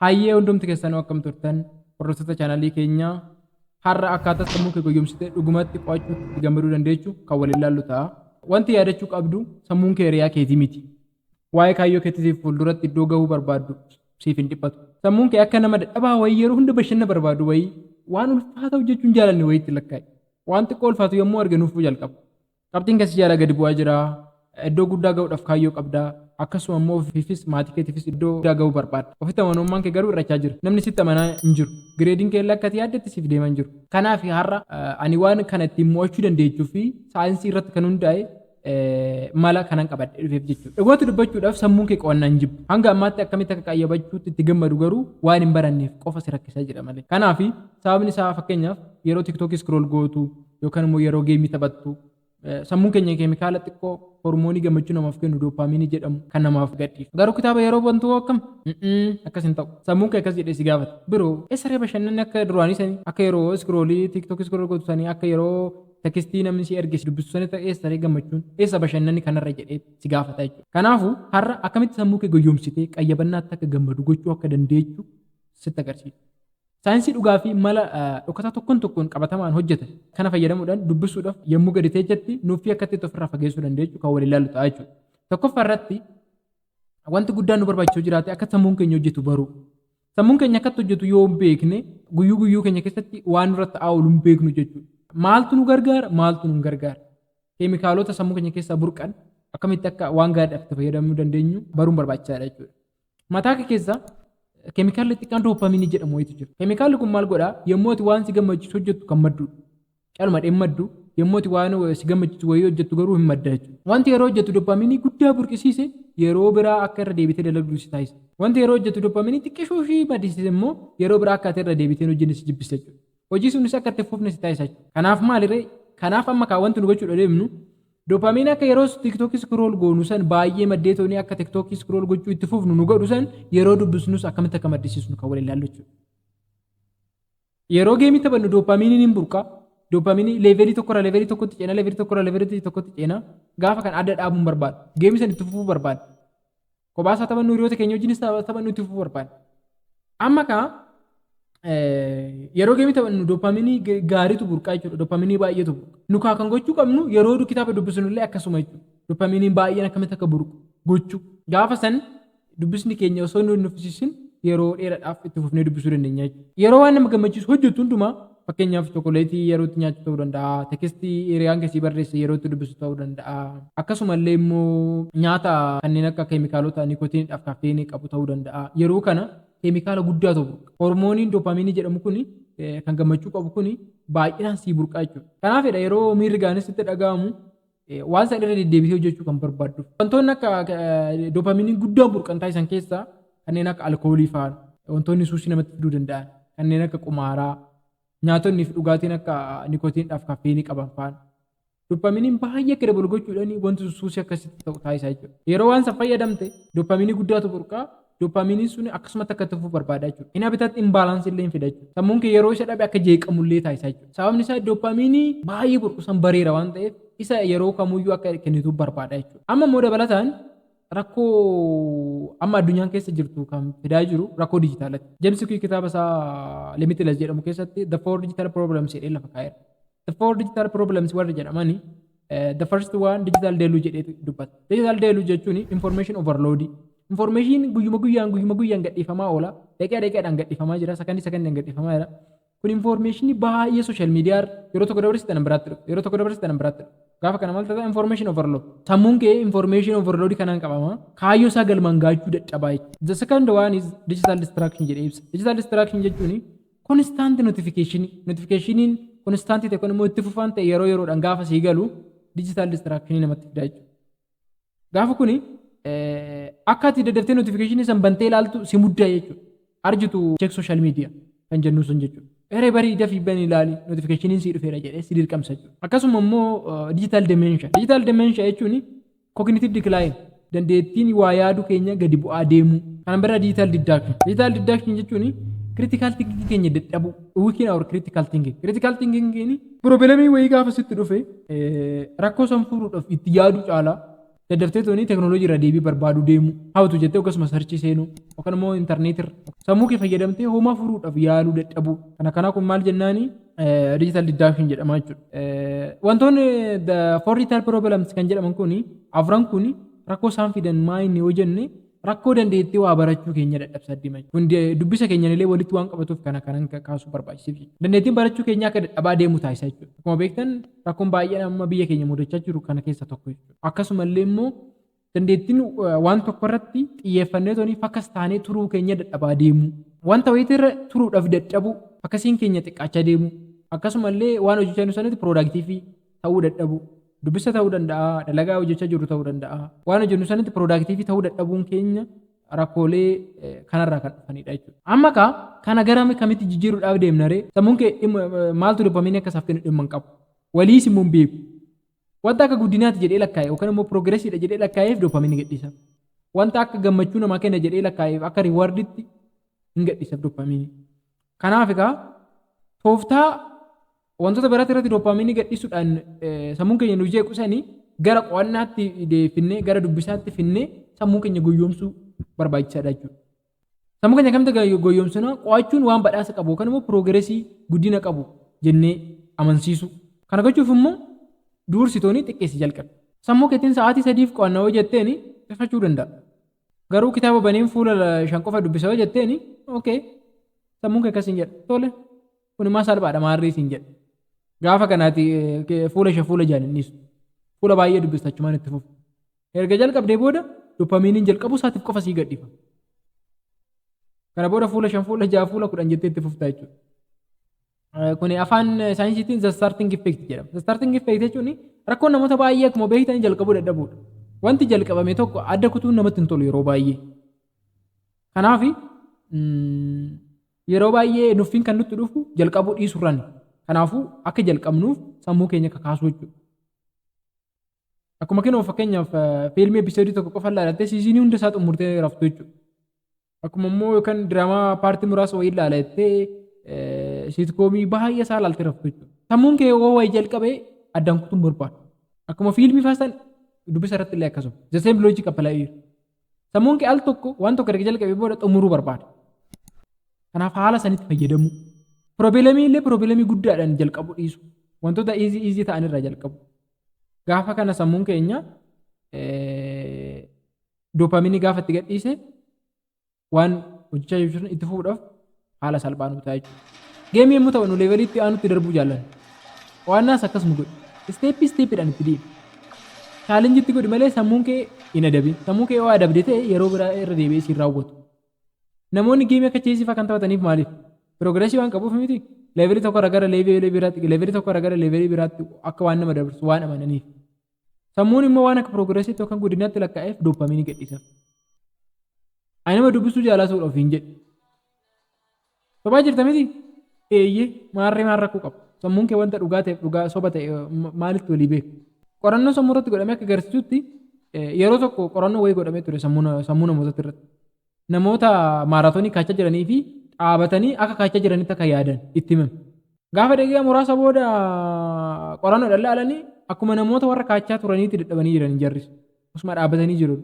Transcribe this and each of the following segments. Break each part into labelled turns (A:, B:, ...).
A: Hayyee hundumti keessanuu akkam turtan hordoftoota chaanalii keenyaa har'a akkaataa sammuu kee goyyomsitee dhugumatti qo'achuu itti gammaduu dandeechu kan waliin ilaallu ta'a. Wanti yaadachuu qabdu sammuun kee hiriyaa keetii miti. Waa'ee kaayyoo keetiitiif fuulduratti iddoo gahuu barbaaddu siif hin dhiphatu. Sammuun kee akka nama dadhabaa wayii yeroo hunda bashanna barbaadu wayii waan ulfaata hojjechuu hin jaalanne wayiitti lakkaa'i. Waan xiqqoo ulfaatu yommuu arge nuffuu jalqaba. Qabxiin kee si jalaa gadi bu'aa jira. Iddoo guddaa ga'uudhaaf kaayyoo qabda. Akkasuma immoo ofiifis maatii keetiifis iddoo guddaa ga'uu barbaadda. Ofitti amanamummaan kee garuu hir'achaa jira. Namni sitti amanaa hin jiru. Gireediin kee illee akka ati yaaddetti siif deemaa hin jiru. Kanaaf har'a ani waan kana ittiin mo'achuu dandeechuu fi saayinsii irratti kan hundaa'e mala kanan qabadhee dhufeef jechuudha. Dhugaatti dubbachuudhaaf sammuun kee qo'annaa hin jibbu. Hanga ammaatti akkamitti akka qayyabachuutti itti gammadu garuu waan hin baranneef qofa si rakkisaa jira malee. Kanaaf sababni isaa fakkeenyaaf yeroo tiktookii scroll gootu, yookaan immoo yeroo geemii taphattu sammuun keenya keemikaala xiqqoo hormoonii gammachuu namaaf kennu dooppaaminii jedhamu kan namaaf gadhiisu. Garuu kitaaba yeroo bantu hoo akkam? Akkas hin ta'u. Sammuun kee akkas jedhee si gaafata. Biroo, eessaree bashannanni akka duraanii sanii, akka yeroo iskiroolii tiiktookii iskirool gootu sanii, akka yeroo tekistii namni si erge si dubbisu sanitti eessaree gammachuun, eessa bashannanni kanarra jedhee si gaafata jechuudha. Kanaafuu, har'a akkamitti sammuu kee goyyoomsitee qayyabannaatti akka gammadu gochuu akka dandeechu sitti agarsiisa. Saayinsii dhugaa fi mala dhokataa tokkon tokkoon qabatamaan hojjete kana fayyadamuudhaan dubbisuudhaaf yommuu gadi teechatti nuuffii akka itti ofirraa fageessuu dandeechu kan waliin ilaallu ta'a jechuudha. Tokkoffaa irratti wanti guddaan nu barbaachisu jiraate akka sammuun keenya hojjetu baruu. Sammuun keenya akkatti hojjetu yoo hin beekne guyyuu guyyuu keenya keessatti waan nurratti ta'aa oolu hin beeknu jechuudha. Maaltu nu gargaara maaltu nu hin gargaara. Keemikaalota sammuu keenya keessaa burqan akkamitti akka waan gaariidhaaf itti fayyadamuu dandeenyu baruun barbaachisaadha jechuudha. Mataa kee keessa keemikaalli xiqqaan dooppaaminii jedhamu wayitu jira. Keemikaalli kun maal godhaa? Yommuu ati waan si gammachiisu hojjettu kan madduudha. Calma dheen maddu, yommuu ati waan si gammachiisu wayii hojjettu garuu hin madda jechuudha. Wanti yeroo hojjettu dooppaaminii guddaa burqisiise yeroo biraa akka irra deebitee dalagdu si taasisa. Wanti yeroo hojjettu dooppaaminii xiqqishuu ishii maddisiise immoo yeroo biraa akka ati irra deebitee hin hojjenne si jibbista jechuudha. Hojii sunis akka itti hin fufne si taasisa jechuudha. Kanaaf maaliree? Kanaaf amma kaa wanti nu gochuudha deemnu Dopamine akka yeroo tiktok scroll goonu san baay'ee maddee toonii akka tiktok scroll gochuu itti fufnu nu godhu san yeroo dubbisnus akkamitti akka maddisiisnu kan wal ilaallu jechuudha. Yeroo geemii taphannu dopaminiin hin burqa. Dopamini leevelii tokkorraa leevelii tokkotti ceena leevelii tokkorraa leevelii tokkotti ceena gaafa kan adda dhaabuun barbaada. Geemii san itti fufuu barbaada. Kophaas haa taphannu hiriyoota keenya wajjinis haa taphannu itti fufuu barbaanna. Amma kaa yeroo geemii taphannu doopaaminii gaariitu burqaa jechuudha. Doopaaminii baay'eetu burqa. Nu kaa kan gochuu qabnu yeroo kitaaba dubbisnu illee akkasuma jechuudha. Doopaaminii baay'een akkamitti akka burqu gochuu. Gaafa san dubbisni keenya osoo nu hin nuffisiisin yeroo dheeraadhaaf itti fufnee dubbisuu dandeenya jechuudha. Yeroo waan nama gammachiisu hojjettu hundumaa Fakkeenyaaf chokoleetii yeroo itti nyaattu ta'uu danda'a, tekestii hiriyaan kee sii barreesse yeroo itti dubbistu ta'uu danda'a. Akkasuma illee immoo nyaata kanneen akka keemikaalota nikotiinii dhaaf kafeeyinii qabu ta'uu danda'a. Yeroo kana keemikaala guddaa ta'u burqa. Hormooniin dopamiinii jedhamu kuni kan gammachuu qabu kuni baay'inaan sii burqa jechuudha. Kanaafidha yeroo miirri gaariin sitti dhaga'amu waan san irra deddeebitee hojjechuu kan barbaadduuf. Wantoonni akka doopaminiin guddaan burqan taasisan keessaa kanneen akka alkoolii fa'aan wantoonni suusii namatti fiduu danda'an kanneen akka qumaaraa nyaatonni fi dhugaatiin akka nikotiinidhaaf kaffeenii qaban fa'aan. Doopaminiin baay'ee akka dabalu gochuudhaan wanti suusii akkasitti ta'u taasisaa jechuudha. Yeroo waan san fayyadamte dooppaminii guddaatu burqaa Dopamiiniin sun akkasumatti akka itti fufu barbaada jechuudha. Hin habitat imbalance illee hin fida jechuudha. Sammuun kee yeroo isa dhabe akka jeeqamu illee taasisa jechuudha. Sababni isaa dopamiinii baay'ee burqusan bareera waan ta'eef isa yeroo kamuyyuu akka kennituuf barbaada jechuudha. Amma immoo dabalataan rakkoo amma addunyaan keessa jirtu kan fidaa jiru rakkoo dijitaalati. James Quick kitaaba isaa Limitless jedhamu keessatti The Four Digital Problems jedhee lafa kaa'eera. The four digital problems warri jedhamani eh, the first one digital deluge jedheetu dubbata. Digital deluge jechuun information overload. Information guyyuma guyyaan guyyuma guyyaan gadhiifamaa oola. Daqiiqa daqiiqaadhaan gadhiifamaa jira. Sakandii sakandiin gadhiifamaa jira. Kun information baay'ee social media irra yeroo tokko dabarsi tanan biraatti dhufa. Yeroo tokko dabarsi tanan biraatti dhufa. Gaafa kana maal ta'a information overload. Sammuun kee information overload kanaan qabama. Kaayyoo isaa galmaan gaachuu dadhabaa jechuudha. The second one is digital distraction jedhee ibsa. Digital distraction jechuun Konistaanti notifikeshinii, notifikeshiniin konistaantii ta'e kun immoo itti fufaan ta'e yeroo yeroodhaan gaafa sii galu diijitaal distiraakishinii namatti fidaa jechuudha. Gaafa kuni akka ati daddaftee notifikeshinii san bantee ilaaltu si muddaa jechuudha. Arjitu check social media kan jennu sun jechuudha. Eree barii dafii bani ilaali notifikeshiniin sii dhufeera jedhee si dirqamsa jechuudha. Akkasuma immoo diijitaal demeensha. Diijitaal demeensha jechuun Cognitive decline, dandeettiin waa yaadu keenya gadi bu'aa deemuu. Kana bira digital deduction. Digital deduction jechuun critical thinking keenya dadhabuu, weaken our critical thinking. Critical thinking keeni pirobilamii wayii gaafa sitti dhufe rakkoo san furuudhaaf itti yaaduu caalaa daddaftee toonii teknooloojii irraa deebii barbaaduu deemuu, hawtu jettee akkasuma sarchii seenuu, yookaan immoo intarneetirra sammuu kee fayyadamtee homaa furuudhaaf yaaluu dadhabuu. Kana kanaa kun maal jennaanii? digital deduction jedhama jechuudha. Eh, Wantoonni the four retail problems kan jedhaman kun afran kun rakkoo isaan fidan maa inni yoo jenne rakkoo dandeettii waa barachuu keenya dadhabsa addima jechuudha. Kun de- dubbisa keenyan illee walitti waan qabatuuf kana kanan ka- kaasuu barbaachisiif jechuudha. Dandeettiin barachuu keenya akka dadhabaa deemu taasisa jechuudha. Akkuma beektan rakkoon baay'een amma biyya keenya mudachaa jiru kana keessa tokko jechuudha. Akkasumallee immoo Dandeettiin waan tokko irratti xiyyeeffannee toonii fakas taanee turuu keenya dadhabaa deemuu. Wanta wayita irra turuudhaaf dadhabuu, fakasiin keenya xiqqaachaa deemuu, akkasuma illee waan hojjechaa jirru sanatti piroodaaktiivii ta'uu dadhabuu. Dubbisa ta'uu danda'a, dalagaa hojjechaa jirru ta'uu danda'a. Waan hojjennu sanatti piroodaaktiivii ta'uu dadhabuun keenya rakkoolee kanarraa kan dhufanidha jechuudha. Amma kaa kana gara kamitti jijjiiruudhaaf deemna ree? Sammuun kee dhimma maaltu dopamiinii akka isaaf kennu dhimma hin qabu. Waliis immoo hin beeku. Wanta akka guddinaati jedhee lakkaa'e yookaan immoo piroogiresiidha jedhee lakkaa'eef doopaamiinii gadhiisa. Wanta akka gammachuu namaa kenna jedhee lakkaa'eef akka riiwaarditti hin gadhiisa doopaamiinii. Kanaaf egaa tooftaa wantoota biraatti irratti doopaamiinii gadhiisuudhaan sammuun keenya nu jeequ sanii gara qo'annaatti deefinnee gara dubbisaatti finnee sammuu keenya goyyoomsuu barbaachisaadha jechuudha. Sammuu keenya akkamitti ga- goyyomsina qo'achuun waan badhaasa qabu yookaan immoo piroogiresii guddina qabu jennee amansiisu. Kana gochuuf immoo duursitooni xiqqeessi jalqabe. Sammuu keetiin sa'aatii sadiif qo'anna yoo jetteen xiqqachuu danda'a. Garuu kitaaba baneen fuula la- shan qofa dubbisa yoo jetteen okay sammuun kee akkas hin jedha. Tole kun immoo salphaadha maarree siin jedha. Gaafa kanaati eh, ke- fuula shan fuula jaal hin dhiisu. Fuula baay'ee dubbista achumaan itti fufu. Erga jalqabdee booda dopamiiniin jalqabuu isaatiif qofa sii gadhiifama. Kana booda fuula shan, fuula ja'a, fuula kudhan jettee itti fuftaa jechuudha. Kuni afaan saayinsiitiin the starting effect jedhama. The starting effect jechuun rakkoo namoota baay'ee akkuma beektan jalqabuu dadhabuudha. Wanti jalqabame tokko adda kutuun namatti hin tolu yeroo baay'ee. Kanaaf yeroo baay'ee nuffiin kan nutti dhufu jalqabuu dhiisurrani. Kanaafuu akka jalqabnuuf sammuu keenya kakaasuu jechuudha. Akkuma kenoo fakkeenyaaf fiilmii episoodii tokko qofa ilaalte siizinii hunda isaa xumurtee raftu jechuudha. Akkuma immoo yookaan diraamaa paartii muraasa wayii ilaala jettee siitkoomii baay'ee isaa ilaaltee raftu jechuudha. Sammuun kee yoo wayii jalqabee addaan kutuun barbaadu. Akkuma fiilmii faastan dubbisa irratti illee akkasuma. The same logic apply here. Sammuun kee al tokko waan tokko erga jalqabee booda xumuruu barbaada. Kanaaf haala sanitti fayyadamuu. Piroobilamii illee piroobilamii guddaadhaan jalqabu dhiisu. Wantoota iizii iizii ta'an irraa jalqabu. Gaafa kana sammuun keenya doopaamiinii gaafa itti gadhiise waan hojjechaa jirru itti fufuudhaaf haala salphaa nu ta'a jechuudha. Geemii yommuu taphannu leevelii itti aanutti darbuu jaallanna. Qo'annaas akkas nu godhi. Isteeppii isteeppiidhaan itti deemi. Chaalenjii itti godhi malee sammuun kee hin adabin. Sammuu kee yoo adabde ta'e yeroo biraa irra deebi'ee siin raawwatu. Namoonni geemii akka cheesii fa'aa kan taphataniif maaliif? Piroogresii waan qabuuf miti. Leevelii tokko irraa gara leevelii biraatti, leevelii tokko irraa gara leevelii biraatti akka waan nama dabarsu waan amananiif. Sammuun immoo waan akka piroogiresiitti yookaan guddinaatti lakkaa'eef dooppamiinii gadhiisaf. Ani nama dubbisuu jaalatuudha ofiin jedhi. Sobaa jirta miti? Eeyyee, maarree maal rakkoo qaba? Sammuun kee wanta dhugaa ta'eef dhugaa soba ta'e maalitti walii beeka? Qorannoon sammuu irratti godhame akka agarsiisutti yeroo tokko qorannoo wayii godhamee ture sammuu namootatti irratti. Namoota maaraatoonii kaachaa jiranii fi dhaabatanii akka kaachaa jiranitti akka yaadan itti himame. Gaafa daqiiqaa muraasa booda qorannoo dhallaalanii akkuma namoota warra kaachaa turaniitti dadhabanii jiran jarris. Osuma dhaabatanii jiru.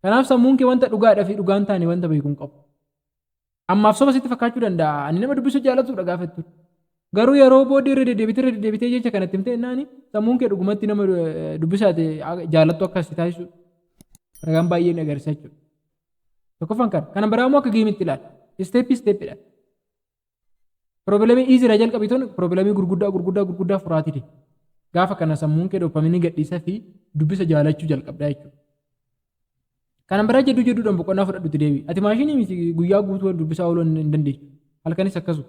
A: Kanaaf sammuun kee wanta dhugaadhaa fi dhugaan taane wanta beeku hin qabu. Ammaaf soba sitti fakkaachuu danda'a. Ani nama dubbisuu jaallatudha gaafa jettu. Garuu yeroo booddee irra deddeebitee irra deddeebitee jecha kanatti himtee jennaani sammuun kee dhugumatti nama eh, dubbisaate a- jaallattu akka si taasisu ragaan baay'een agarsiisa jechuudha. Tokkoffaan kana. Kana biraa immoo akka geemitti ilaali. Isteeppii isteeppiidha. Piroobilamii iizira jalqabii tun piroobilamii gurguddaa gurguddaa gurguddaa furaatii deema. Gaafa kana sammuun kee dopamiinii gadhiisa fi dubbisa jaalachuu jalqabdaa jechuudha. Kanan biraa jedhu jedhuudhaan boqonnaa fudhadhutti deebi'i. Ati maashinii miti guyyaa guutuu dubbisaa ooluu hin dandeessu. Halkanis akkasuma.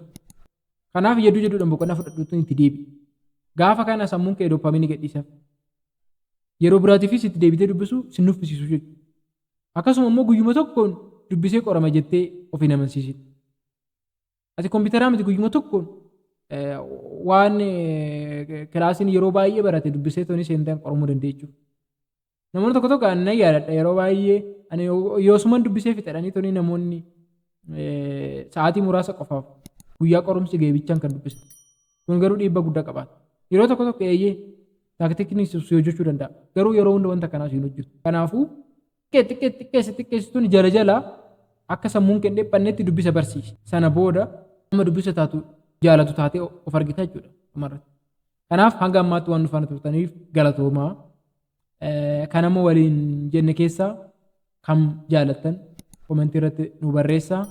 A: Kanaaf jedhu jedhuudhaan boqonnaa fudhadhutti itti deebi'i. Gaafa kana sammuun kee dooppaamiinii gadhiisaaf. Yeroo biraatiifis itti deebitee dubbisuu si nuffisiisu jechuudha. Akkasuma immoo guyyuma tokkoon dubbisee qorama jettee of hin amansiisin. Ati kompiitaraa miti guyyuma tokkoon waan kilaasiin yeroo baay'ee barate dubbisee toonii seentaan qoramuu dandeechuuf. Namoonni tokko tokko ani nan yaadadha yeroo baay'ee ani yoosuman dubbisee fixadhanii tuni namoonni sa'aatii muraasa qofaaf guyyaa qorumsi ga'e bichaan kan dubbisan. Kun garuu dhiibbaa guddaa qabaata. Yeroo tokko tokko eeyyee taaktiikni si hojjechuu danda'a. Garuu yeroo hunda wanta kanaas hin hojjetu. Kanaafuu xiqqee xiqqeessi xiqqeessi tuni jala jala akka sammuun kee hin dhiphannetti dubbisa barsiisi. Sana booda amma dubbisa taatu jaalatu taatee of argita jechuudha dhumarratti. Kanaaf hanga ammaatti waan nu faana turtaniif galatoomaa. Eh, Kan amma waliin jenne keessaa kam jaalattan komentii irratti nu barreessaa.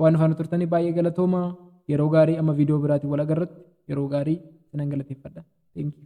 A: Waan nu faana turtaniif baay'ee galatoomaa. Yeroo gaarii amma viidiyoo biraatiin wal agarratti yeroo gaarii sinan galateeffadha. Thank you.